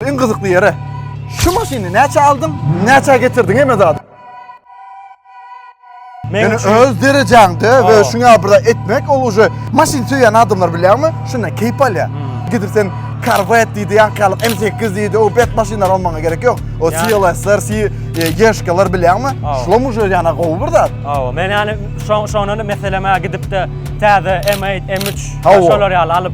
Iň gyzykly ýeri, şu maşyny näçä aldyň, näçä getirdiň hemme zady? Men öz derejäňde we şuňa bir etmek ol uje maşyn söýen adamlar bilýärmi? Şunda keýp alýar. Hmm. Gidip sen Corvette diýdi, ýankalyk M8 diýdi, o bet maşynlar almaga gerek ýok. O CLS-ler, Yeshka-lar e, bilýärmi? Şulam uje ýana gowy bir zat. Hawa, men ýani şoňa meseleme gidip-de täze M8, M3 şolar ýaly alyp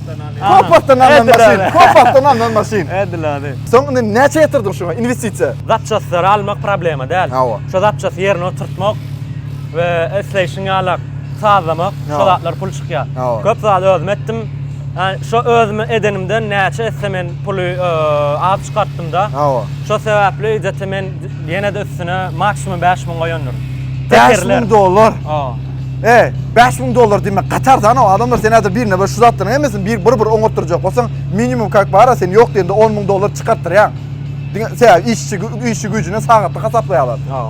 Köp wagtdan alnan maşyn, köp wagtdan alnan maşyn. Edil ady. Soň indi näçe ýatyrdyň şuňa inwestisiýa? Zapçastlary almak problema däl. Hawa. Şo zapçasty ýerine oturtmak we isleýşiň ýalak sazlamak, şo zatlar pul çykýar. Köp zat özüm etdim. Şo özüm edenimden näçe etse men puly az çykartdym-da. Hawa. Şo sebäpli ejete men ýene-de üstüne maksimum bäş müň goýandyryn. Bäş müň dollar? Hawa. E, 5000 dollar diýmek gatar zan o. Adamlar sen häzir birine şu zatlaryň hemmesini bir bir bir oňatdyrjak bolsaň, minimum kak bara sen ýok diýende 10000 dollar çykartdyrýaň. Diňe sebäp işçi işçi güýjüne sagatlyk hasaplaýarlar. Ha.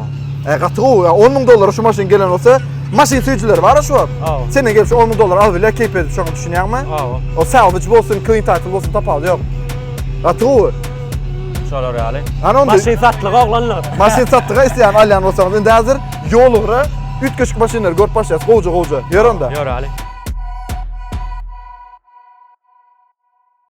E, gaty gowy. 10000 dollara şu maşyn gelen bolsa, maşyn süýjüleri bar şu wagt. Ha. Senden gelip şu 10000 dollar alyp bilýär, keýp edip şoňa düşünýäňmi? Ha. O salvage bolsun, clean title bolsun tapawudy ýok. Gaty gowy. Şolar ýaly. Maşyn satlyga oglanlar. Maşyn satlyga isleýän alýan bolsaňyz indi häzir Ýolugra üýtgeşik maşynlary görüp başlaýas gowja gowja. Ýör onda. Ýör Ali.